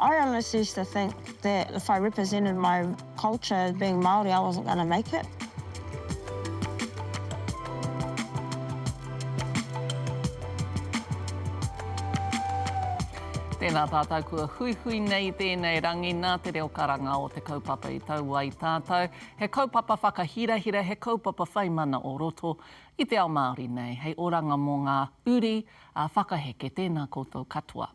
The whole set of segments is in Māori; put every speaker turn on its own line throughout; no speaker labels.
I honestly used to think that if I represented my culture as being Māori, I wasn't going to make it.
Tēnā tātou kua huihui nei i tēnei rangi nā te reo karanga o te kaupapa i tau ai tātou. He kaupapa whakahirahira, he kaupapa whai mana o roto i te ao Māori nei. Hei oranga mō ngā uri whakaheke, tēnā koutou katoa.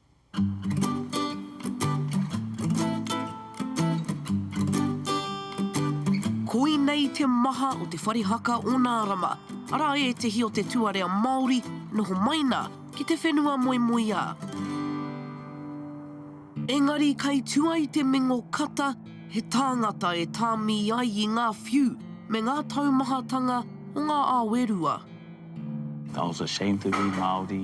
Koinei te maha o te whare haka o Nārama, arā ētehi o te tuarea Māori noho mai nā ki te whenua moemoeā. Engari kei tua i te mingo kata he tāngata e tāmi ai i ngā whiu me ngā taumahatanga o ngā awe rua.
That was a shame to be Māori.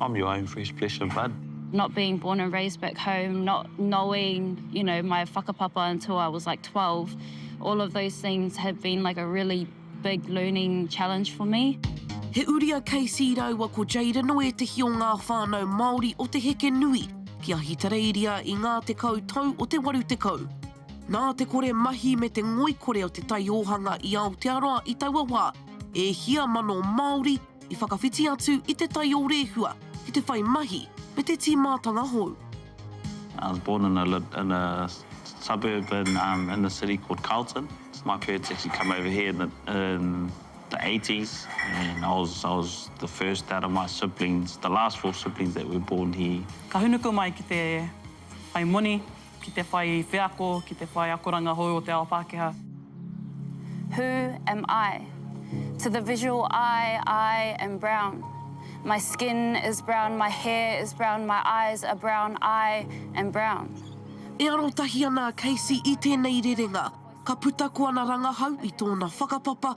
I'm your own fresh flesh and blood. Not being born and
raised back home, not knowing, you know, my whakapapa until I was like 12, all of those things have been like a really big learning challenge for me. He uri a
Casey rāua ko Jayden o ētehi o ngā whānau Māori o te heke nui ki Ahitereiria i ngā tekau tau o te 80. Nā te kore mahi me te ngoikore o Te Taiohanga i Aotearoa i taua wā, e hia mano Māori, i whakawhiti atu i te tai o Rehua ki te whai mahi me te tīmātanga hou. I
was born in a in a suburb in um in the city called Carlton. My parents actually come over here in the in the eighties and I was I was the first out of my siblings, the last four siblings that were born here. Ka hūnuku mai ki
te whai moni. ki te whai wheako, ki te whai akoranga hou o te ao Pākehā.
Who am I? To the visual eye, I am brown. My skin is brown, my hair is brown, my eyes are brown, I am brown. E arotahi
ana a Casey i tēnei rerenga, ka puta ko ana rangahau i tōna whakapapa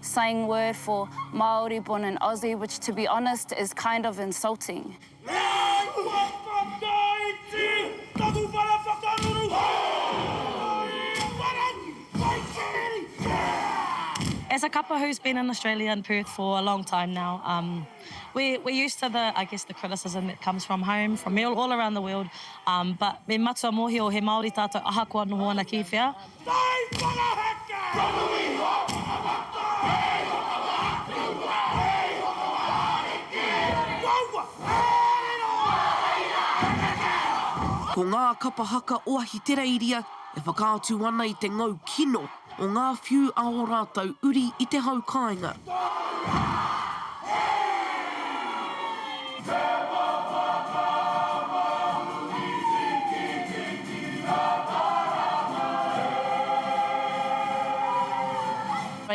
Slang word for Māori born in Aussie which to be honest is kind of insulting. He āhua whakaiti taku whare whakaruru Māori
whare whaitiri yeah! As a couple who's been in Australia and Perth for a long time now um we're we're used to the I guess the criticism that comes from home from all around the world um but me matua mohio he Māori tātou ahakoa noho ana ki whea. Whai Parahaka! Kanohi hoki ka waka! Hei ho ka wa aku wa! Hei ho ka wa ariki! Ko wau wa arero! Wa hai ra he kekero! Ko ngā kapa haka o Ahitereiria e whakaatu ana i te ngau kino o ngā whiu a ō rātou uri i te hau kāinga. Tōu rā!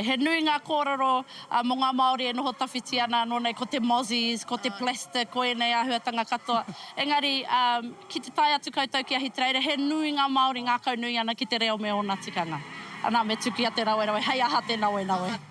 He nui ngā kōrero mō ngā Māori e noho tawhiti ana anō nei, ko te mozzies, ko te plastic, ko ēnei āhuatanga katoa. Engari, ki te tae atu koutou ki Ahitereiria, he nui ngā Māori ngākaunui ana ki te reo me ōna tikanga. Anā, me tukia te rawerawe, hei aha te nawenawe?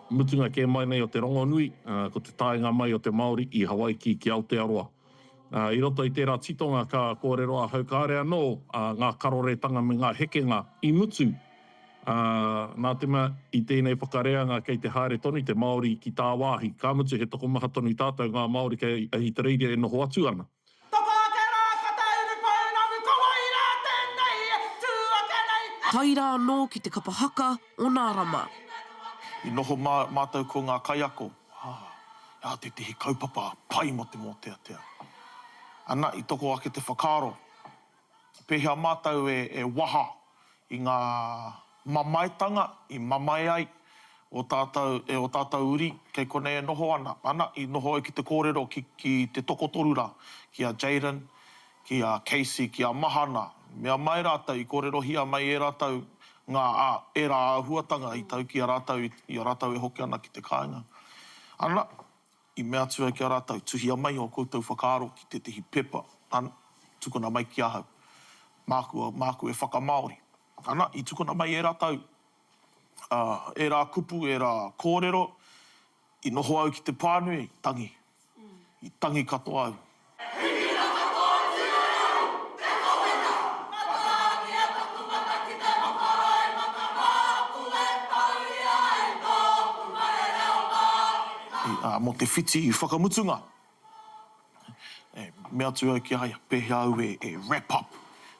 Mutunga kē mai nei o te rongonui, ko te taenga mai o te Māori i Hawaiki ki Aotearoa. I roto i tērā titonga ka kōrero ahau kāore anō ngā karoretanga me ngā hekenga i mutu. Nā te mea i tēnei whakareanga kei te haere tonu te Māori ki tāwāhi, ka mutu he tokomaha tonu tātou ngā Māori kei Ahitereiria e noho atu ana. Toko ake rā, ka tauru pounamu, ka wai rā
tēnei, tū ake nei e. Tae rā anō ki te kapa haka o nā Rama. I
noho mātou ko ngā kaiako, ā, he aha tētehi kaupapa pai mō te mōteatea? Ana, i toko ake te whakaaro, Pēhea mātou e waha i ngā mamaetanga i mamae ai ō tātou e ō tātou uri kei konei e noho ana? Ana, i noho au ki te kōrero ki te tokotoru rā, ki a Jayden, ki a Casey, ki a Mahana, mea mai rātou i kōrerohia mai e rātou ngā ērā āhuatanga i tau ki a rātou i a rātou e hoki ana ki te kāinga. Ana. I mea atu au ki a rātou, Tuhia mai ō koutou whakaaro ki tētehi pepa, an, tukuna mai ki ahau. Māku, māku e whakamāori. Ana, i tukuna mai ērā tau, ā, ērā kupu, ērā kōrero, i noho au ki te pānui, tangi. I tangi katoa au. He hira katoa ki a au te kawenga. Whakaakia taku mata ki te makaroimaka māku e tauria ai tōku whare reo Māori mai. Ā, mō te whiti whakamutunga, e mea atu au ki a ia pēhea au e wrap up,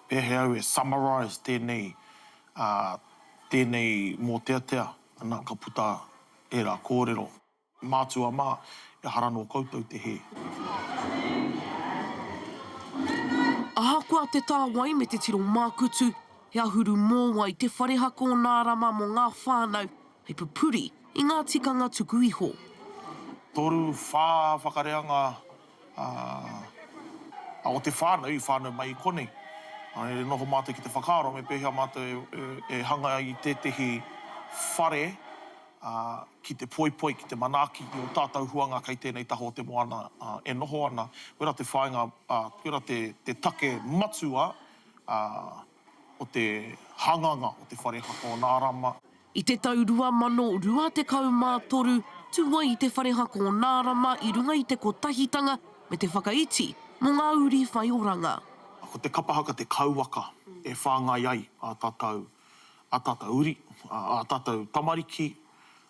pēhea au e summarise tēnei, ā, tēnei mōteatea, ana, ka puta ērā kōrero. Mātua mā, ehara nō koutou te hē.
Ahakoa te tāwai me te tiro mākutu, he ahuru mōwai te whare haka o Nā Rama mō ngā whānau, hei pupuri i ngā tikanga tuku iho. Toru,
whā whakareanga o te whānau i whānau mai i konei. E noho mātou ki te whakaaro me pēhea mātou e hanga i tētehi whare. ki te poipoi, ki te manaaki i ō tātou huanga kei tēnei taha o te moana e noho ana, koirā te whāinga, koirā te take matua o te hanganga o te whare haka o Nārama. I te
tau 2023, tū ai te whare haka o Nārama i runga i te kotahitanga me te whakaiti mō ngā uri whai oranga. Ko te kapa
haka te kauwaka e whāngai ai ā tātou ā tātou uri, ā tātou tamariki,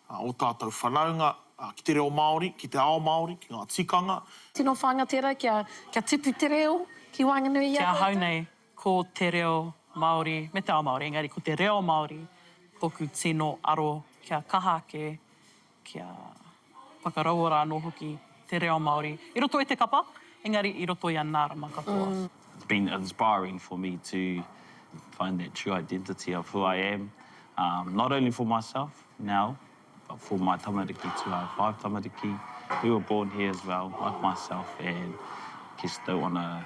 ō tātou whanaunga ki te reo Māori, ki te ao Māori, ki ngā tikanga. Tino whāinga tērā
kia tipu te reo ki waenganui i a tātou. Ki ahau nei,
ko te reo Māori me te ao Māori, engari ko te reo Māori tōku tino aro kia kaha ake. kia whakaraua rā anō hoki te reo Māori i roto i te kapa, engari i roto i a Nārama katoa. It's been inspiring
for me to find that true identity of who I am, not only for myself now, but for my tamariki too. I have five tamariki who were born here as well, like myself, and just don't want to.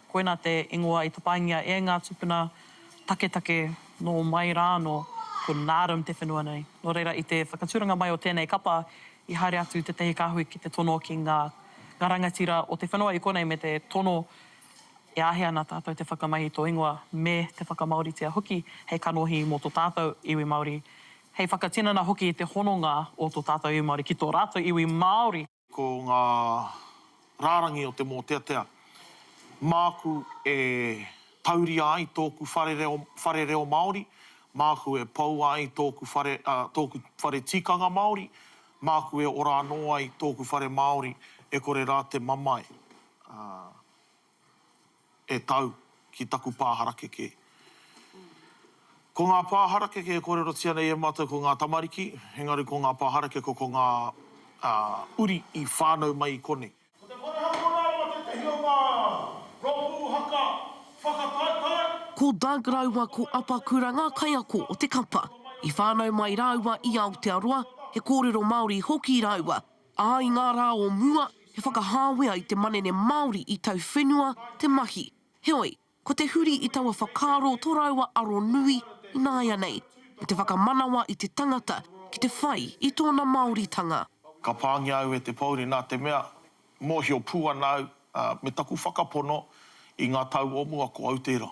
Koina te ingoa i tapaingia e ngā tupuna taketake nō mai rā anō, ko Naarm te whenua nei. Nō reira, i te whakatūranga mai o tēnei kapa, i haere atu tētahi kāhui ki te tono ki ngā ngā rangatira o te whenua i konei me te tono e āhei ana tātou te whakamahi i tō ingoa me te whakamāoritia hoki hei kanohi mō tō tātou iwi Māori, hei whakatinana hoki i te hononga o tō tātou iwi Māori ki tō rātou iwi Māori. Ko ngā
rārangi o te mōteatea māku e tauria ai tōku whare reo, whare reo Māori, māku e poua ai tōku whare, ā, tōku whare tikanga Māori, māku e ora anō ai tōku whare Māori e kore rā te mamae, ā. e tau ki taku pā harakeke. Ko ngā pā harakeke e kōrerotia nei e mātou ko ngā tamariki, engari ko ngā pā harakeke ko ngā uri i whānau mai i konei. Ko te whare hapū rāua tētehi o ngā rōpū haka
whakataetae. Ko Doug rāua ko Apakura ngā kaiako o te kapa. I whānau mai rāua i Aotearoa, he kōrero Māori hoki rāua. Ā, i ngā rā o mua, he whakahāwea i te manene Māori i tauwhenua te mahi. Heoi, ko te huri i taua whakaaro tō rāua aro nui ināianei, me te whakamanawa i te tangata ki te whai i tōna Māoritanga. Ka pāngia
au e te pōuri nā te mea, mōhio pū ana au Ā, me taku whakapono, i ngā tau o mua ko au tērā.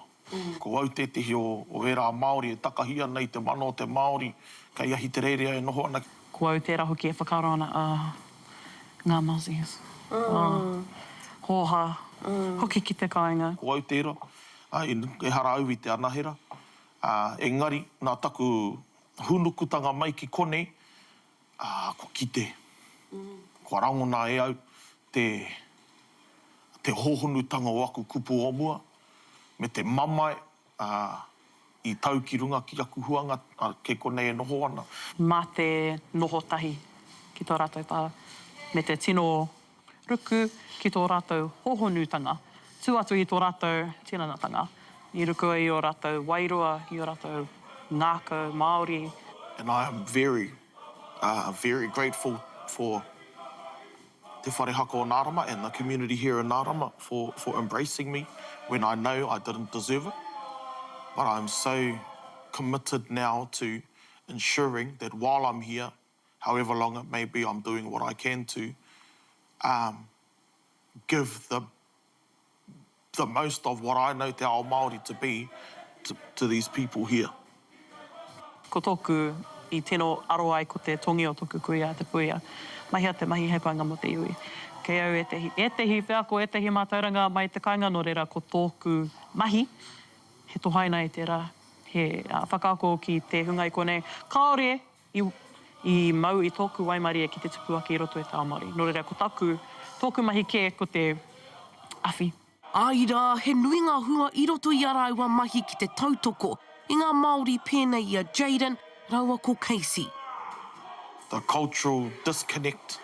Ko au tētehi o ērā Māori e takahi ana i te mana o te Māori kei Ahitereiria e noho ana. Ko au tērā hoki e
whakaaro ana, ā, ngā Mozzies, ā, hōhā, hoki ki te kāinga. Ko au tērā,
ā, ehara au i te anahera, ā, engari, nā taku hūnukutanga mai ki konei, Aa, kua kite, kua rangona e au te, te hohonutanga o aku kupu o mua, me te mamae, aa, i tau ki runga ki aku huanga, a, kei konei e noho ana. Ma te
noho tahi ki to ratou pa, me te tino ruku ki tō rātou hōhonutanga, tū atu i tō rātou tinanatanga, i ruku i ō rātou wairua, i ō rātou ngākau Māori. And I am
very, very grateful for Te Whare Haka o Nārama and the community here in Nārama for for embracing me when I know I didn't deserve it, but I am so committed now to ensuring that while I'm here, however long it may be I'm doing what I can to um give the the most of what I know te ao Māori to be to to these people here.
Ko tōku i tino aro ai ko te tongi o tōku kuia, te puia. Mahia te mahi hei painga mō te iwi. Kei au ētehi, ētehi wheako, ētehi mātauranga mai te kainga nō reira ko tōku mahi he tohaina i tērā, he whakaako ki te hunga i konei kāore I, i mau i tōku waimarie ki te tupu ake i roto e Tao Māori. Nō reira, ko taku, tōku mahi kē ko te awhi. Āe rā,
he nui ngā hua i roto i a rāua mahi ki te tautoko i ngā Māori pēnei i a Jayden rāua ko Casey.
The cultural disconnect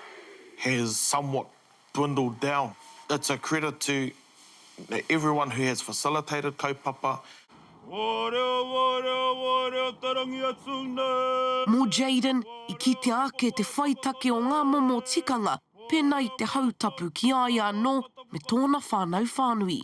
has somewhat dwindled down. It's a credit to everyone who has facilitated kaupapa. Wō reo, wō reo, wō reo tarangi
atu nei. Mō Jayden, i kitea ake te whai take o ngā momo tikanga pēnā i te hau tapu ki a ia anō me tōna whānau whānui.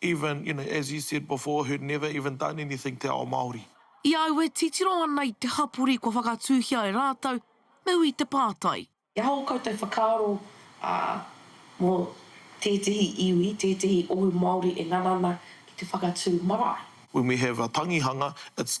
Even, you know, as he said before, who'd never even done anything te ao Māori. I a au e
titiro ana i te hapori kua whakatūhia e rātou, me ui te pātai. He aha ō koutou
whakaaro mō tētehi iwi, tētehi ohu Māori e ngana ana ki te whakatū marae? When we have a
tangihanga, it's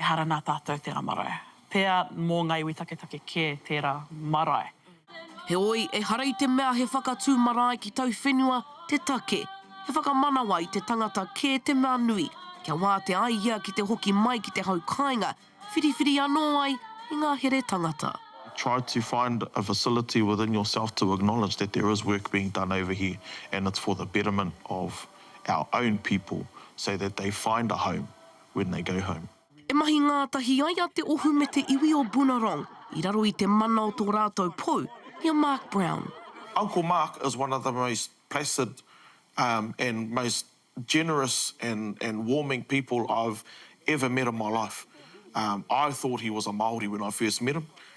Ehara nā tātou tērā marae. Pea mō ngā iwi taketake kē tērā marae. Heoi,
ehara i te mea he whakatū marae ki tauwhenua te take. He whakamanawa i te tangata kē te mea nui, kia wātea ai ia ki te hoki mai ki te hau kāinga, whiriwhiri anō ai i ngā here tangata. Try to
find a facility within yourself to acknowledge that there is work being done over here and it's for the betterment of our own people so that they find a home when they go home. E mahi ngātahi
ai a Te Ohu me te iwi o Bunarong i raro i te mana o tō rātou pou, i a Mark Brown. Uncle Mark
is one of the most placid and most generous and warming people I've ever met in my life. I thought he was a Māori when I first met him,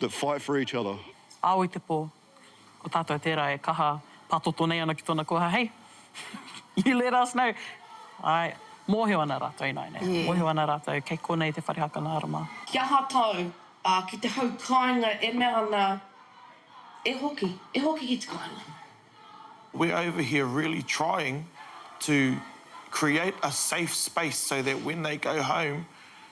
That fight for each other. Ao i te po.
Ko tatou tera e kaha patoto nei ana ki tona koha hei. You let us know. Ae. Mohio ana ratou inaina ia. Mohio ana ratou kei konei te whare haka narama. Ki aha tau,
a ki te hau kainga e mea ana e hoki, e hoki ki te kainga. We're
over here really trying to create a safe space so that when they go home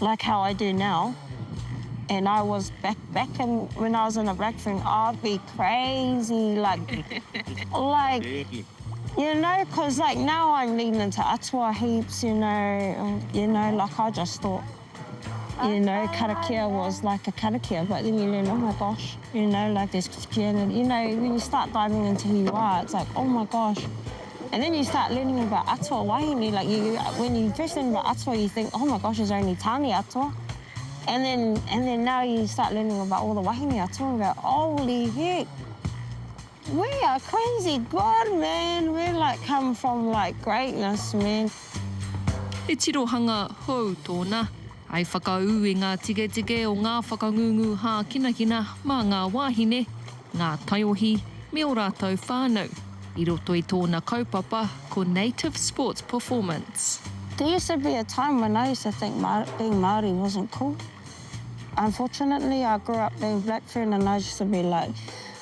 Like how I do now and I was back back in when I was in a black room I'd be crazy like like you know cause like now I'm leading into atua heaps you know you know like I just thought you know karakia was like a karakia but then you learn oh my gosh you know like there's Christianity you know when you start diving into who you are it's like oh my gosh And then you start learning about atua wahine, like you, when you first learn about atua you think oh my gosh it's only tane atua and then and then now you start learning about all the wahine atua and go holy heck we are crazy good man, we like come from like greatness
man. He
tirohanga
hou
tōna.
Hei whakaū i ngā tiketike o ngā whakangungu hākinakina mā ngā wāhine, ngā taiohi, me ō rātou whānau, i roto i tōna kaupapa ko Native Sports Performance. There used to be
a time when I used to think being Māori wasn't cool. Unfortunately I grew up being black Fern and I used to be like,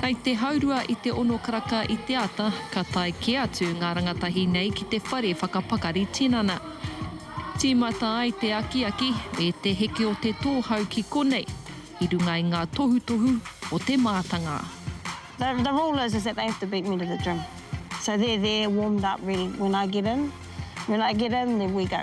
Kei te haurua i te ono karaka i te ata, ka tae kē atu ngā rangatahi nei ki te whare whakapakari tinana. Tīmata ai te akiaki me te heke o te tōhau ki konei, i runga i ngā tohutohu o te mātanga. The the
rule is is that they have to beat me to the gym so they're there warmed up ready when I get in when I get in then we go.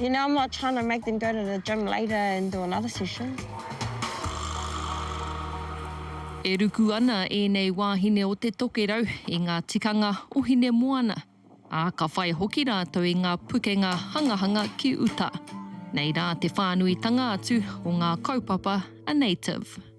You know I'm not trying to make them go to the gym later and do another session.
E ruku ana ēnei wāhine o te tokerau i ngā tikanga o Hinemoana, ā, ka whai hoki rātou i ngā pukenga hangahanga ki uta. Nei rā te whānuitanga atu o ngā kaupapa a Native.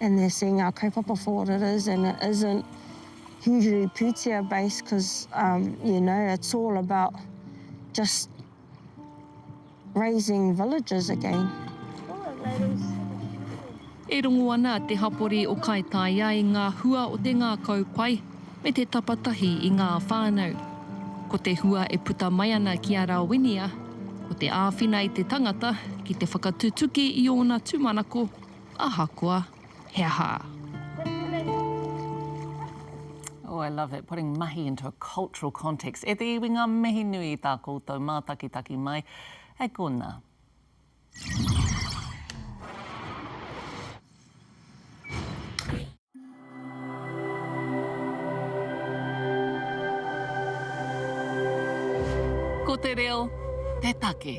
and they're seeing our kaupapa for what it is and it isn't hugely pūtea based cause um you know it's all about just raising villages again.
E rongo ana te hapori o Kaitaia i ngā hua o te ngākau pai me te tapatahi i ngā whānau. Ko te hua e puta mai ana ki a Rawinia, ko te āwhina i te tangata ki te whakatutuki i ōna tūmanako, Ahakoa, he aha?
Oh, I love that, putting mahi into a cultural context. E te iwi ngā mihi nui i tā koutou mātakitaki mai. Hei konā. Ko te reo te take.